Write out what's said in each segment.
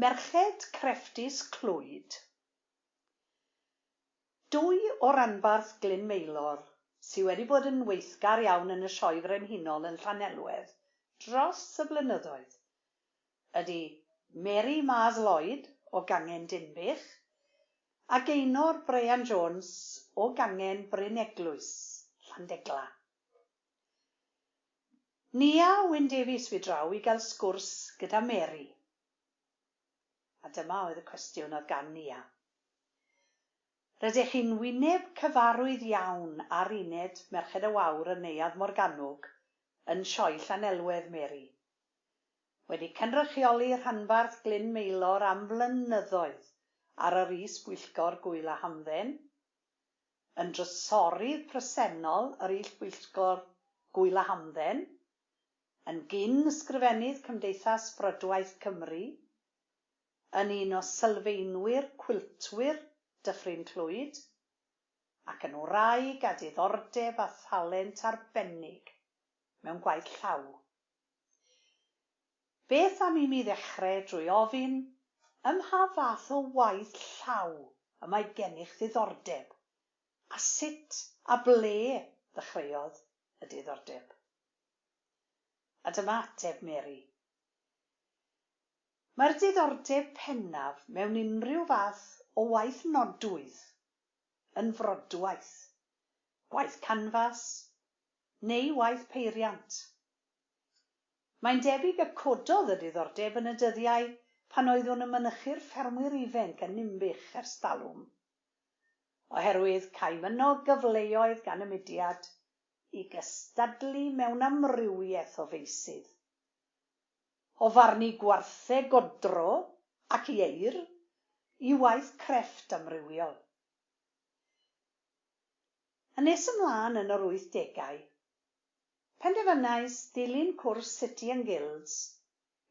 Merched crefftus Clwyd. Dwy o ranbarth Glyn Maelor sy wedi bod yn weithgar iawn yn y Sioe Frenhinol yn Llanelwedd dros y blynyddoedd ydy Mary Mars Lloyd o Gangen Dinbych a Geinor Bryan Jones o Gangen Bryn Eglwys, Llandegla. Nia Wyn Davies fu draw i gael sgwrs gyda Mary. A dyma oedd y cwestiwn oedd gan Nia. Rydych chi'n wyneb cyfarwydd iawn ar uned Merched y Wawr yn Neuadd Morgannwg yn Sioe Llanelwedd, Mary. Wedi cynrychioli rhanbarth Glyn Maelor am flynyddoedd ar yr is-bwyllgor Gŵyl a Hamdden, yn drysorydd presennol yr Ullbwyllgor Gŵyl a Hamdden, yn gyn-ysgrifennydd Cymdeithas Frydwaith Cymru, yn un o sylfaenwyr Cwiltwyr Dyffryn Clwyd, ac yn wraig â diddordeb a thalent arbennig mewn gwaith llaw. Beth am i mi ddechrau drwy ofyn, ym mha fath o waith llaw y mae gennych ddiddordeb, a sut a ble ddechreuodd y diddordeb? A dyma ateb Mary, Mae'r diddordeb pennaf mewn unrhyw fath o waith nodwydd yn frodwaith, gwaith canfas, neu waith peiriant. Mae'n debyg y cododd y diddordeb yn y dyddiau pan oeddwn yn mynychu'r ffermwyr ifenc yn Ninbych ers talwm, oherwydd caem yno gyfleoedd gan y mudiad i gystadlu mewn amrywiaeth o feysydd, o farnu gwartheg godro ac ieir i waith crefft amrywiol. Yn nes ymlaen yn yr wythdegau, penderfynais ddilyn cwrs City and Guilds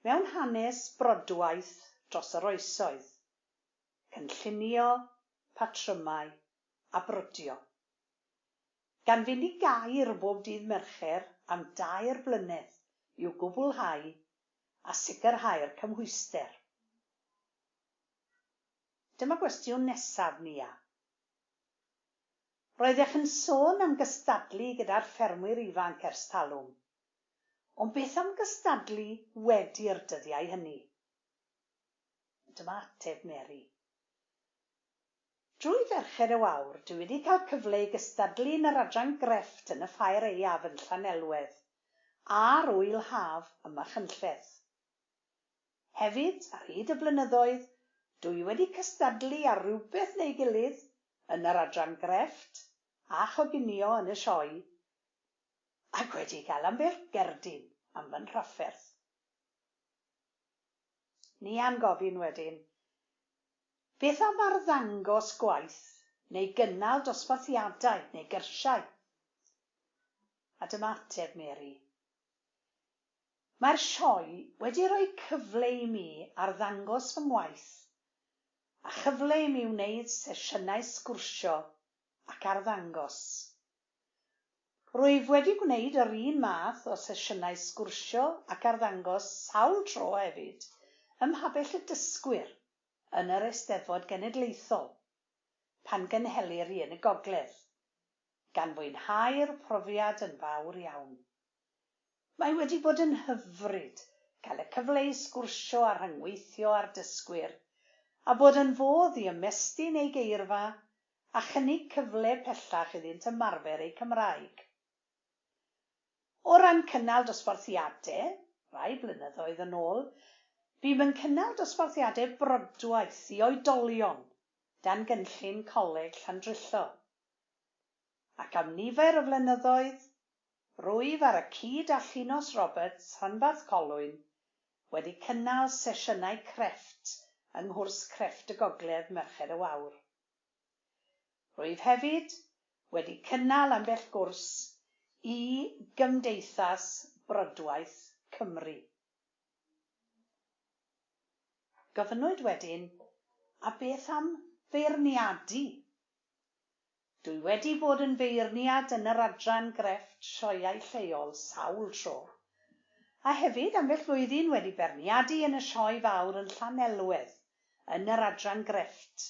mewn Hanes Brodwaith dros yr Oesoedd, Cynllunio, Patrymau a Brodio, gan fynd i Gaer bob dydd Mercher am dair blynedd i'w gwblhau a sicrhau'r cymhwyster. Dyma gwestiwn nesaf, Nia. Roeddech yn sôn am gystadlu gyda'r ffermwyr ifanc ers talwm. Ond beth am gystadlu wedi'r dyddiau hynny? Dyma ateb Mary. Drwy Ferched y Wawr, dwi wedi cael cyfle i gystadlu yn yr adran grefft yn y Ffair Aeaf yn Llanelwedd, a'r Ŵyl Haf ym Machynlleth. Hefyd, ar hyd y blynyddoedd, dw i wedi cystadlu ar rywbeth neu gilydd yn yr adran grefft a choginio yn y Sioe, ac wedi cael ambell gerdyn am fy nhrafferth. Ni a gofyn wedyn, beth am arddangos gwaith neu gynnal dosbarthiadau neu gyrsiau? A dyma ateb Mary, Mae'r sioe wedi rhoi cyfle i mi arddangos fy ngwaith a chyfle i mi wneud sesiynau sgwrsio ac arddangos. Rwyf wedi gwneud yr un math o sesiynau sgwrsio ac arddangos sawl tro hefyd ym Mhabell y Dysgwyr yn yr Eisteddfod Genedlaethol pan gynhelir un y Gogledd, gan fwynhau'r profiad yn fawr iawn. Mae wedi bod yn hyfryd cael y cyfle i sgwrsio a rhyngweithio â'r dysgwyr, a bod yn fodd i ymestyn eu geirfa a chynnig cyfle pellach iddynt ymarfer eu Cymraeg. O ran cynnal dosbarthiadau, rai blynyddoedd yn ôl, bûm yn cynnal dosbarthiadau brodwaith i oedolion dan gynllun Coleg Llandrillo, ac am nifer o flynyddoedd Rwyf ar y cyd â Llinos Roberts, Rhanbarth Colwyn, wedi cynnal sesiynau crefft yng nghwrs crefft y Gogledd Merched y Wawr. Rwyf hefyd wedi cynnal ambell gwrs i Gymdeithas Brodwaith Cymru. Gofynnwyd wedyn, 'A beth am feirniadu Dwi wedi bod yn feirniad yn yr adran grefft sioeau lleol sawl tro, a hefyd ambell flwyddyn wedi beirniadu yn y Sioe Fawr yn Llanelwedd yn yr adran grefft,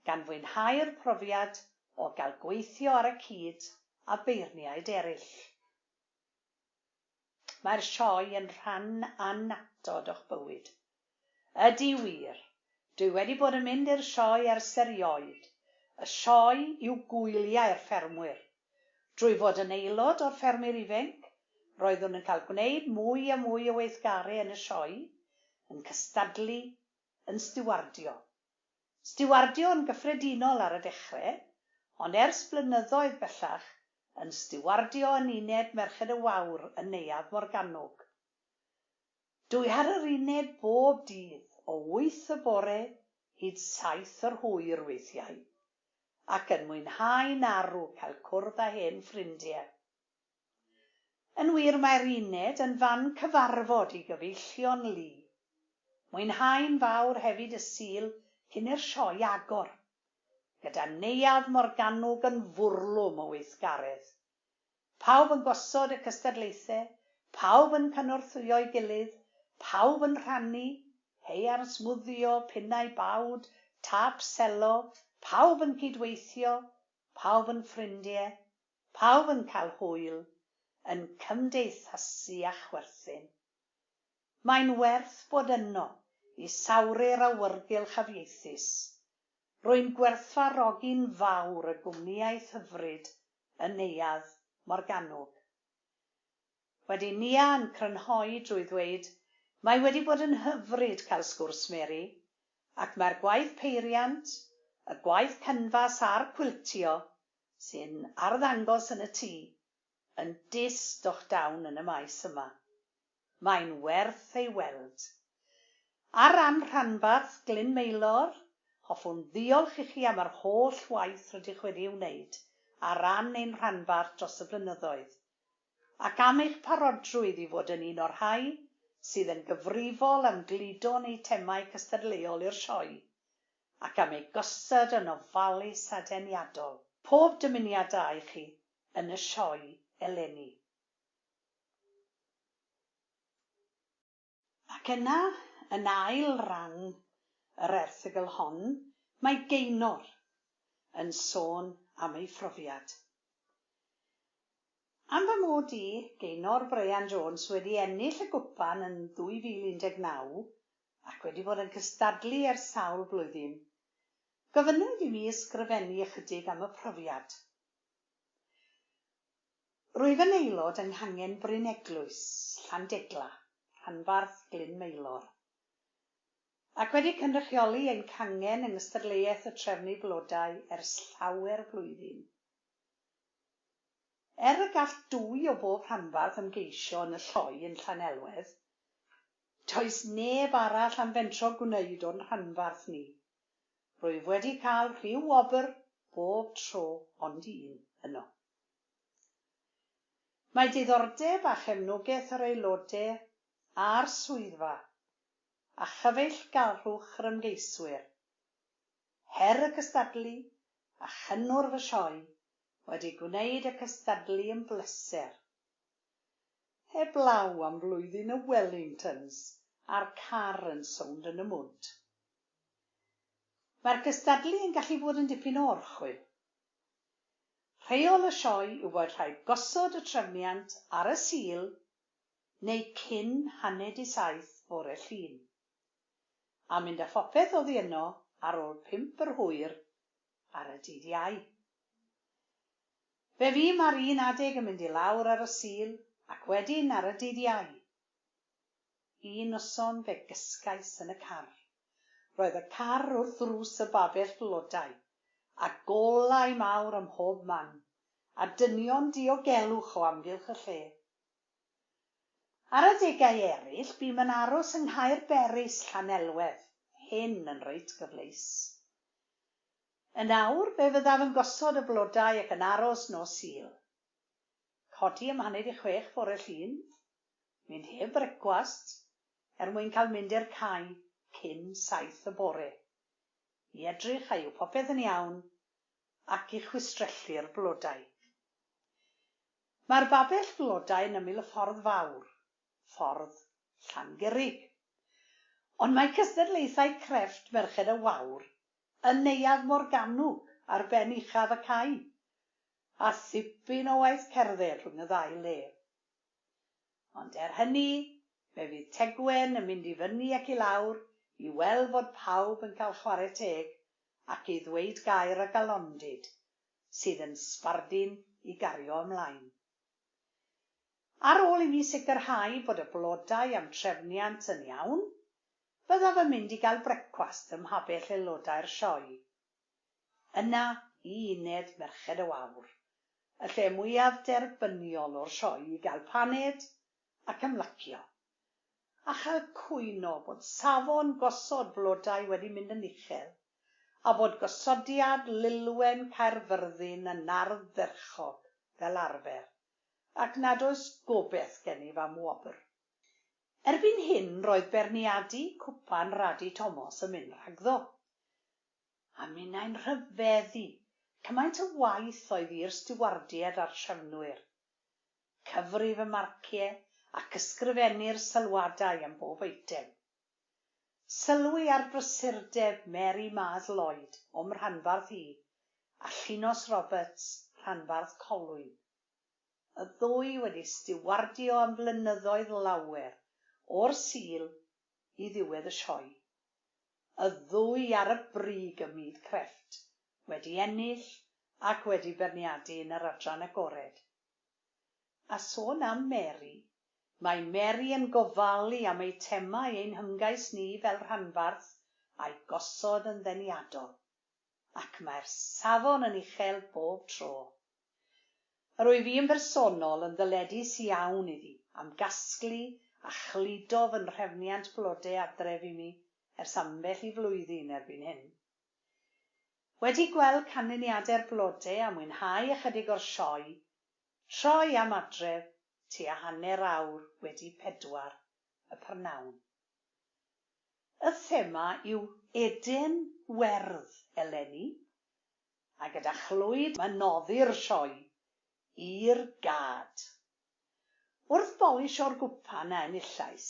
gan fwynhau'r profiad o gael gweithio ar y cyd â beirniaid eraill. Mae'r sioe yn rhan annatod o'ch bywyd. Ydy wir! Dwi wedi bod yn mynd i'r sioe ers erioed. Y sioe yw gwyliau'r ffermwyr. Drwy fod yn aelod o'r Ffermwyr Ifenc, roeddwn yn cael gwneud mwy a mwy o weithgaru yn y sioe, yn cystadlu, yn stiwardio. Stiwardio yn gyffredinol ar y dechre, ond ers blynyddoedd bellach yn stiwardio yn Uned Merched y Wawr yn Neuadd Morgannwg. Dw i ar yr uned bob dydd o wyth y bore hyd saith yr hwyr weithiau, ac yn mwynhau'n arw cael cwrdd â hen ffrindie. Yn wir, mae'r uned yn fan cyfarfod i gyfeillion lu. Mwynhau'n fawr hefyd y Sul cyn i'r sioe agor, gyda Neuadd Morgannwg yn fwrlwm o weithgaredd. Pawb yn gosod y cystadlaethau, pawb yn cynorthwyo'i gilydd, pawb yn rhannu, haearn smwddio, pinnau bawd, tâp selo, pawb yn cyd-weithio, pawb yn ffrindiau, Pawb yn cael hwyl, yn cymdeithasu a chwerthin. Mae'n werth bod yno i sawru'r awyrgylch afieithus. Rwy'n gwerthfawrogi'n fawr y gwmnïaeth hyfryd yn Neuadd Morgannwg. Wedi Nia yn crynhoi drwy ddweud, Mae wedi bod yn hyfryd cael sgwrs Mary, ac mae'r gwaith peiriant, y gwaith canfas a'r cwiltio sy'n arddangos yn y tŷ, yn dyst o'ch dawn yn y maes yma. Mae'n werth ei weld. Ar ran Rhanbarth Glyn Maelor, hoffwn ddiolch i chi am yr holl waith rydych wedi ei wneud ar ran ein rhanbarth dros y blynyddoedd, ac am eich parodrwydd i fod yn un o'r rhai sydd yn gyfrifol am gludo'n eitemau cystadleuol i'r Sioe, ac am eu gosod yn ofalus a deniadol, pob dymuniad da i chi yn y sioe eleni. Ac yna, yn ail ran yr erthygl hon, mae Gaynor yn sôn am ei phrofiad. Am fy mod i, Gaynor Bryan Jones, wedi ennill y gwpan yn 2019, ac wedi bod yn cystadlu ers sawl blwyddyn, gofynnwyd i mi ysgrifennu ychydig am y profiad. Rwyf yn aelod yng Nghangen Bryn Eglwys, Llandegla, rhanbarth Glyn Maelor, ac wedi cynrychioli ein cangen yng Ngystadleuaeth y Trefnu Blodau ers llawer blwyddyn. Er y gall dwy o bob rhanbarth ymgeisio yn y lloi yn Llanelwedd, Does neb arall am fentro gwneud o'n rhanbarth ni. Rwyf wedi cael rhyw wobr bob tro ond un yno. Mae diddordeb a chefnogaeth yr aelodau a'r swyddfa a chyfeillgarwch yr ymgeiswyr, her y cystadlu a chynnwrf y sioe wedi gwneud y cystadlu yn bleser. Heblaw am flwyddyn y Wellingtons a'r car yn sownd yn y mwd. Mae'r cystadlu yn gallu bod yn dipyn o orchwyl. Rheol y sioe yw bod rhaid gosod y trefniant ar y Sul neu cyn haned i saith fore Llun, a mynd â phopeth oddi yno ar ôl pump yr hwyr ar y dydd Iau. Fe fu ma'r un adeg yn mynd i lawr ar y Sul ac wedyn ar y dydd Iau. Un noson fe gysgais yn y car. Roedd y car wrth ddrws y babell flodau, a golau mawr ym mhob man, a dynion diogelwch o amgylch y lle. Ar adegau eryll bûm yn aros yng Nghaerberys, Llanelwedd, hyn yn reit gyfleus. Yn awr, fe fyddaf yn gosod y blodau ac yn aros nos Sul. Codi am haned i chwech fore Llun. Mynd heb frecwast, er mwyn cael mynd i'r cae cyn saith y bore, i edrych a yw popeth yn iawn, ac i chwistrellu'r blodau. Mae'r babell flodau yn ymyl y ffordd fawr, ffordd Llangurig. Ond mae cystadlaethau crefft Merched y Wawr yn Neuadd Morgannwg ar ben uchaf y cae, a thipyn o waith cerdded rhwng y ddau le. Ond er hynny, fe fydd Tegwen yn mynd i fyny ac i lawr i weld fod pawb yn cael chwarae teg ac i ddweud gair a galondid sydd yn sbardun i gario ymlaen. Ar ôl i mi sicrhau bod y blodau a'm trefniant yn iawn, byddaf yn mynd i gael brecwast ym mhabell aelodau'r sioe. Yna i uned Merched y Wawr, y lle mwyaf derbyniol o'r sioe i gael paned ac ymlacio, a chael cwyn o bod safon gosod blodau wedi mynd yn uchel, a bod gosodiad lilwen Caerfyrddin yn arddderchog, fel arfer. ac nad oes gobeith gennyf am wobr. Erbyn hyn roedd beirniadu cwpan Radu Tomos yn mynd rhagddo. A minnau'n rhyfeddu, cymaint o waith oedd i'r stiwardiaid a'r trefnwyr. Cyfrif y marciau ac ysgrifennu'r sylwadau am bob eitem. Sylwi ar brysurdeb Mary Mars Lloyd o'm rhanbarth i, a Llinos Roberts, rhanbarth Colwyn. Y ddwy wedi stiwardio am flynyddoedd lawer, o'r Sul i ddiwedd y Sioe. Y ddwy ar y brig ym myd crefft, wedi ennill ac wedi beirniadu yn yr adran agored. A sôn am Mary, mae Mary yn gofalu am eitemau ein hymgais ni fel rhanbarth a'u gosod yn ddeniadol, ac mae'r safon yn uchel bob tro. Yr wyf i yn bersonol yn ddyledus iawn iddi am gasglu a chludo fy nhrefniant blode adref i mi ers ambell i flwyddyn erbyn hyn. Wedi gweld canlyniadau'r blode a mwynhau ychydig o'r sioe, troi am adref tua hanner awr wedi pedwar y prynhawn. Y thema yw Eden Werdd eleni, a gyda chlwyd mae'n noddi'r sioe i'r gad. Wrth bolisio'r gwpan a enillais,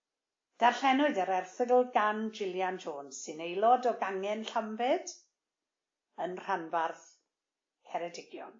Darllenwyd yr erthygl gan Gillian Jones, sy'n aelod o Gangen Llanbed yn Rhanbarth Ceredigion.